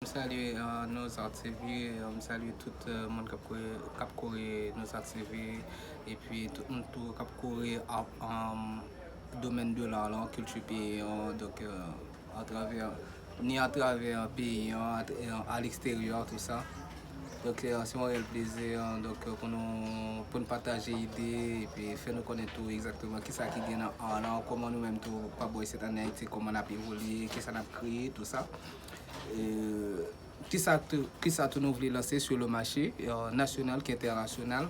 M salye Nozart TV, m salye tout moun kap kore Nozart TV epi tout moun tou kap kore domèn de l'art lan, kilti peyi an donk atravè ni atravè peyi an a leksteryè tout sa donk se yon rèl plezi pou nou pataje ide epi fè nou konnen tou egzakteman kisa ki gen nan art lan kòman nou menm tou pa bò isit an Ayiti kòman nap evolye, kisa nap kreye tout sa. Kisa tou nou vle lanse sou le mache nasyonal k entènasyonal.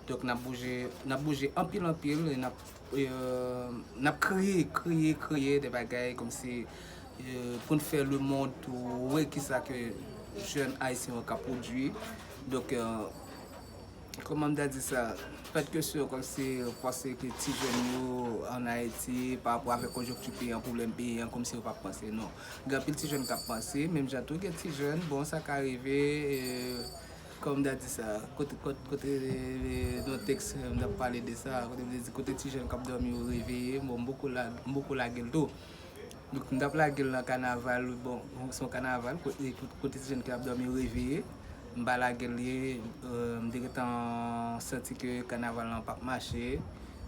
Donk n ap bouje, n ap bouje anpil anpil, n ap, n ap kreye, kreye, kreye de bagay kòmsi pou n fè le mond tou wè kisa ke jèn ayisyen yo ka pwodui. Donk, kòman m ta di sa, fèt ke sou kòmsi panse ke ti jèn yo an Ayiti pa rapò avèk konjonkti peyi an, pwoblèm peyi an, kòmsi yo pa panse non. Gen anpil ti jèn kap panse menm jan tou gen ti jèn bon sa ka rive kòm da di sa kote kote kote nan tèks m tap pale de sa kote m te di kote ti jèn kap dòmi yo reveye bon m poko la m poko lage l tou m tap lage l nan kanaval bon son kanaval kote ti jèn kap dòmi yo reveye. M pa lage l ye, m te gentan santi ke kanaval lan pap mache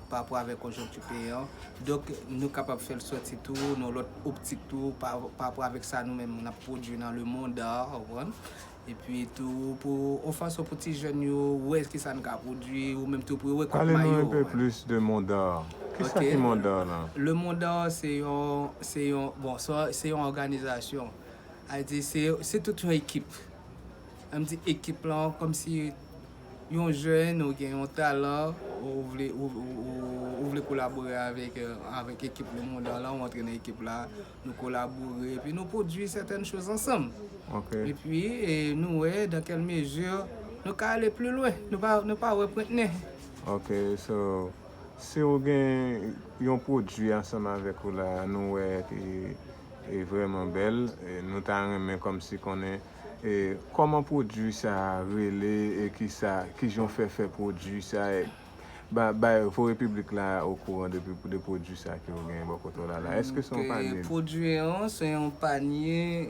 parapò avèk konjonkti peyi an. Donk nou kapab fè l sòti tou nan lòt optik tou parapò avèk sa nou menm n ap pwodui nan lemonn, ou konprann. Epi tou pou yon fason pou ti jèn yo wè ki sa n ka pwodui ou menm tou pou yo wè kout mayo. Pale nou enpe plis de Mond'Art. Ki sa ki Mond'Art lan? Lemonn Art se yon, se yon, bon se yon òganizasyon. Al di se tout yon ekip. Lèm di ekip lan kòmsi yon jèn ou gen yon talan ou vle kolabore avèk ekip Le Moudan lan, ou antre nan ekip la, nou kolabore epi nou pwodui sètèn choz ansanm. Epi nou wè dan kèl mezi nou ka ale pli lwen, nou pa wè pwent nen. Ok so si ou gen yon pwodui ansanm avèk ou la nou wè. E vreman bel e nou ta renmen komsi konnen e koman pwodwi sa rele e kisa kijan w fè fè pwodwi sa e ba bay voye piblik la okouran de de pwodwi sa ke w genyen bò kote w la la eske se yon panye Ok pwodwi an se yon panye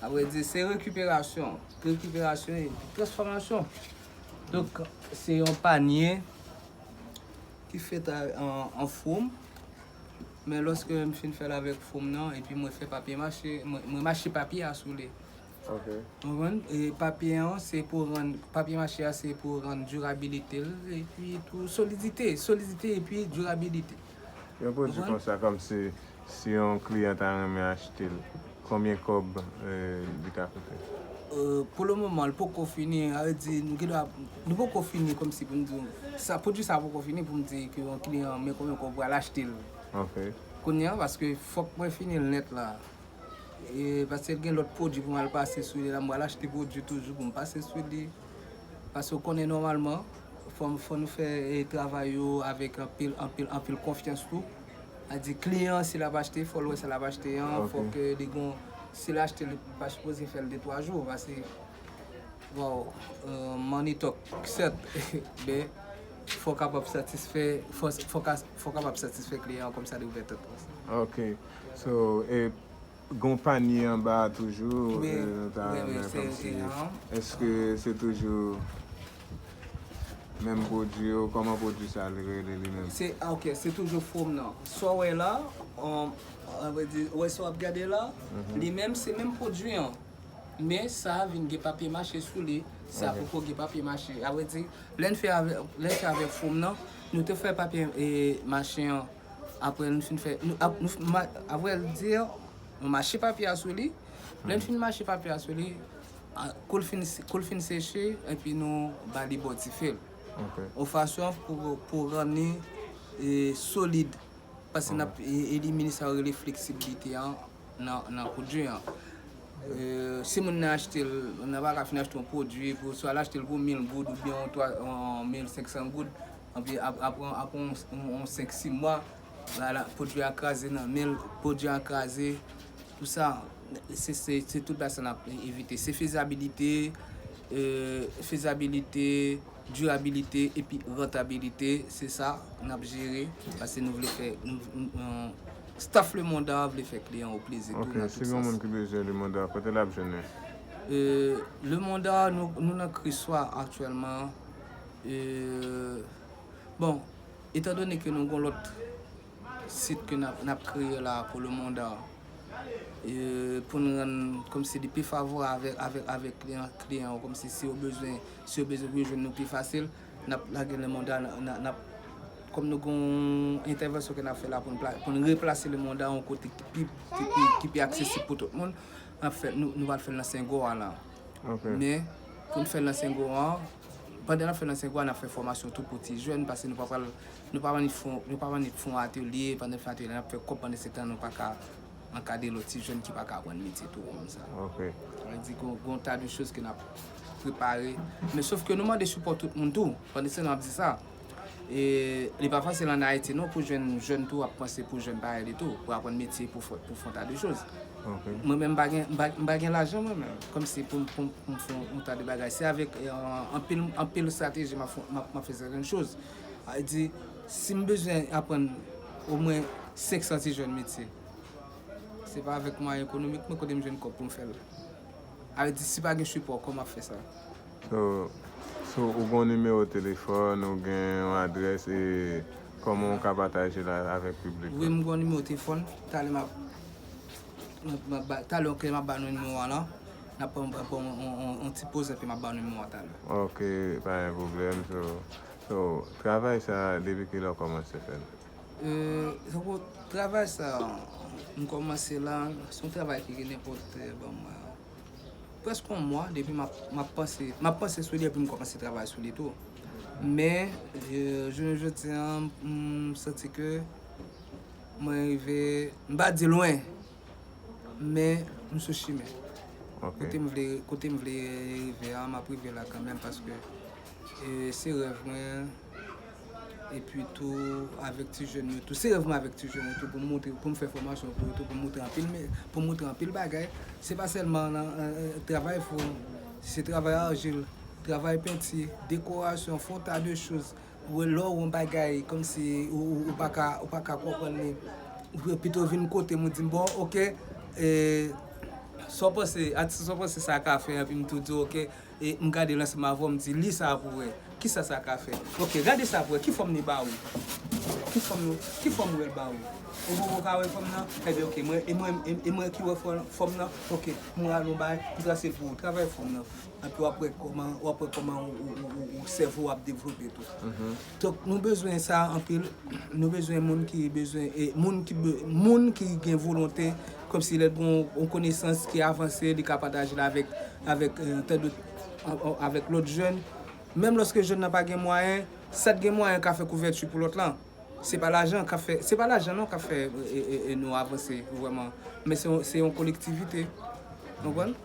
a vre di se rekiperasyon rekiperasyon e transfòmasyon donk se yon panye ki fèt a an fwom. Men loske m fin fèl avèk fom nan epi mwen fè papye mache, mwen mache papye a sou li. Ok. Ou konprann? E papye an se pou rann, papye mache a se pou rann dirabilite l epi tou solidite, solidite epi dirabilite. Yon pwodui konsa kòmsi si yon kliyan ta renmen achte l. Konbyen kob li ka koute? Pou le moman li poko fini, sa vle di nou gen dwa, nou poko fini komsi pou nou di w, pwodui sa poko fini pou m di ke yon kliyan an men konbyen kob ou pral achte l. Ok. Kounye an paske fok mwen fini l nèt la. E paske gen lot pwodui pou m al pase sou li la, m pral achte pwodui toujou pou m pase sou li. Paske ou konnen nòmalman fò nou fè travay yo avèk anpil anpil anpil konfyans tou. A di kliyan an si lap achte fòl wè sa lap achte an, fòk li gon sil achte li pa sipoze fèl 2 3 jou pase waw money talk sèt men fòw kapab satisfè fòw kapab satisfè kliyan an kòmsa li ouvè tèt ok so e. Gon panye anba a toujou e nou ta renmen komsi eske se toujou menm pwodwi yo koman pwodwi sa li rele li menm. Se ok se toujou fwom nan sa w wè la avwe di wè sa w ap gade la li menm se menm pwodwi an men sa vin gen papye mache sou li sa poko gen papye mache avwe di lè n fè avèk fwom nan nou te fè papye mache an. Apre nou fin fè, apre l di yo, nou mache papye a sou li. Lè n fin mache papye a sou li, kou l fin seche, epi nou ba li bò dife l. Yon fason pou rann li solid. Paske n ap elimine sa yo rele fleksibilite an. nan pwodwi an. Si moun nan achte l, moun nan pa ka fin achte yon pwodwi, swa l achte l pou 1000 goud oubyen yon 1500 goud, anpi apre yon 5, 6 mwa, pwodwi a kraze nan men l, pwodwi an kraze, tout sa, se tout bagay sa n ap evite. Se fezabilite, fezabilite, dirabilite epi rantabilite, se sa n ap jere, paske nou vle fè. Staff le monde art vle fè kliyan ou plezi tou nan tout sens. Ok, si gen yon moun ki bezwen le monde art, kote lap jwenn li? Le monde art nou nan Kriswa aktyèlman. Bon, etan done ke nou gen yon lòt sit ke nap kreye la pou le monde art, pou nou rann komsi li pi favorab avèk kliyan yo, komsi si yo bezwen, si yo bezwen vin jwenn nou pi fasil. Nap lage lemonda nap kòm nou gon entèvansyon ke nap fè la poun replase lemonda yon kote ki pi aksesib pou tout moun nap fè nou pral fèl nan sengo a lan men poun fèl nan sengo a pandan nap fèl nan sengo a nap fè fòmasyon tou pou ti jèn pase nou pa pral nou pa annik fon atelye pandan nou fè atelye nap fè kòb pandan se tan nou paka Ankadre lòt ti jèn ki pa ka aprann metye tou won konsa. Sa vle di gen yon ta de choz ke n ap prepare. Men sof ke nou mande sipò tout moun tou. Pandiske nou ap di sa, li pa fasil an Ayiti non pou jwenn jèn tou ap panse pou jèn parèy li tou, pou aprann metye, pou fè yon ta de choz. Mwen menm m pa gen lajan mwen menm, kòmsi pou m fè yon ta de bagay. Se avèk anpil estrateji m ap fè sèten choz. Sa vle di, si m bezwen aprann omwen 500 ti jèn metye, se pa avèk mwayen ekonomik mwen, kote m jwenn kòb pou m fè l? Sa vle di, si pa gen sipò, kòman m ap fè sa? So, so ou gen yon nimewo telefòn, ou gen yon adrès e kòman ou ka pataje l avèk piblik la? Wi, m gen yon nimewo telefòn. Talè m ap, talè, ok, m ap ba nou nimewo a la. Nap pran yon ti poz epi map baw numewo a talè. Ok pa gen pwoblèm so travay sa depi kilè ou kòmanse fèl? Eee travay sa m kòmanse la se yon travay ki gen nenpòt bon prèske yon mwa depi map panse map panse sou li epi m kòmanse travay sou li tou men jounen jodi an m santi ke mwen rive m pa di lwen Men, m sou chimen. Kote m vle, kote m vle rive a, m ap rive la kanmenm paske se rèv mwen. E pi tou, avèk ti jèn yo tou. Se rèv mwen avèk ti jèn yo tou pou m montre, pou m fè fòmasyon pou yo tou, pou m montre anpil, pou m montre anpil bagay. Se pa sèlman nan travay fou, se travay argile, travay penti, dekorasyon, fon ta de choz. Ou wè lè w wè yon bagay kòmsi ou pa ka ou pa ka konprann li, ou pito vin kote m ou di m bon ok sa w panse atis sa w panse sa ka fè epi m tou di w ok m gade l ansanm avè w m di li sa pou w wè kisa sa ka fè ok gade sa pou w wè ki fòm li ba ou ki fòm li ki fòm ou wè l ba ou ou wè ou ka wè fòm nan ebyen ok e mwen e mwen ki wè fòm nan ok m rale yon bagay m trase l pou ou travay fòm nan. epi wap wè kòman wap wè kòman ou sèvo ap devlope tou donk nou bezwen sa anpil nou bezwen moun ki bezwen e moun ki moun ki gen volonte kòmsi lèl gon yon konesans ki avanse li ka pataje l avèk avèk tande avèk lòt jèn menm lòske jèn nan pa gen mwayen sat gen mwayen ka fè kouvèti pou lòt lan. Se pa lajan kap fè, se pa lajan non kap fè nou avanse vrèman, men se yon kolektivite. Ou konprann?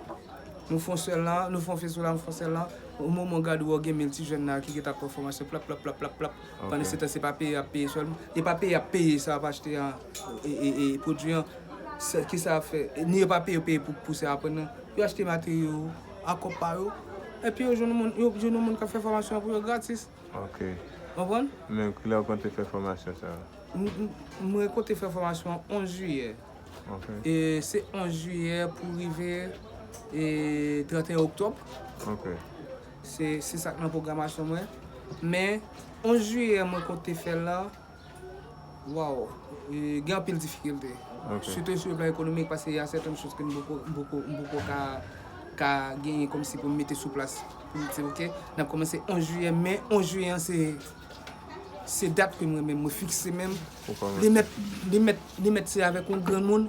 Nou fon sèl la, nou fon feso la, nou fon sèl la, o moman ou gade wè gen 1000 ti jèn la ki gentan ap pran fòmasyon plap plap plap plap plap, pandan se tan se pa peye yap peye sèlman, e pa peye yap peye sa yap achte a e pwodui an, ki sa yap fè? Ni yo pa peye yo peye pou sa yo aprann nan, yo achte materyo yo a kòb pa yo, epi yo jwenn yon moun, yo jwenn yon moun kap fè fòmasyon an pou yo gratis. Ok. Konprann? Men kilè ou konte fè fòmasyon sa a? Mwen konte fè fòmasyon an 11 jiyè. Ok. E se 11 jiyè pou rive 31 oktòb. Ok. Se sa k nan pwogramasyon mwen. Men 11 jiyè mwen konte fè l lan. Waw gen anpil difikilte sitou sou le plan ekonomik paske ya sèten choz ke m poko ka genyen komsi pou m mete sou plas pou m di ok n ap komanse 11 jiyè men 11 jiyè an se dat ke mwen menm mwen fikse menm li mèt se avèk yon granmoun.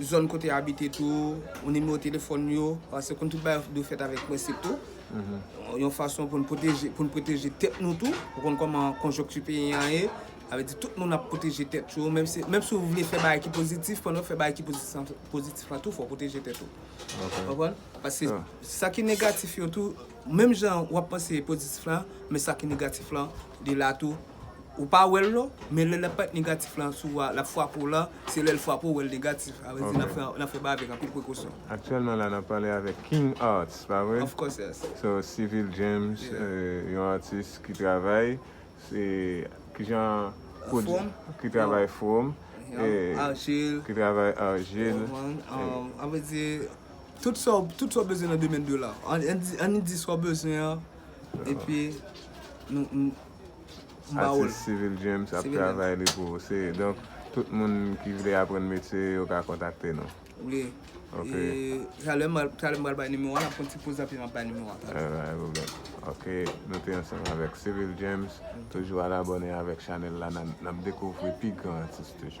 zòn kote yo abite tou, yon nimewo telefòn yo, paske konn tout bagay dwe fèt avèk prensip tou, yon fason pou n pwoteje tèt nou tou, ou konn kòman konjonkti peyi an ye, sa vle di tout moun ap pwoteje tèt yo, menm si ou vle fè bagay ki pozitif, pandan w ap fè bagay ki pozitif la tou, fò w pwoteje tèt ou, ou konprann, paske sa ki negatif yo tou, Menm jan wap panse pozitif lan men sa ki negatif lan li la tou ou pa wèl non men lè lap pèt negatif lan sou a lap fwape w lan se lèl fwape w wèl negatif sa vle di nan fè bagay avèk anpil prekosyon. Aktyèlman la nap pale avèk King Arts pa vre? Of course yes. So Civil James yon atis ki travay se kijan Fwom ki travay fwom Argile ki travay argile An vle di Tout sa w bezwen nan domèn de la. An ni di sa w bezwen an epi nou ba w l. Atis Civil James ap travay li pou ou. Se donk tout moun ki vle aprann metye yo ka kontakte nou. Wi. Ok. E talè m pral bay nimewo a. N ap pran yon ti poz api m ap bay nimewo a. Alright. Pa gen pwoblèm. Ok. Nou te ansanm avèk Civil James. Toujou al abòne avèk chanèl la. N ap dekouvri pi gran atis toujou.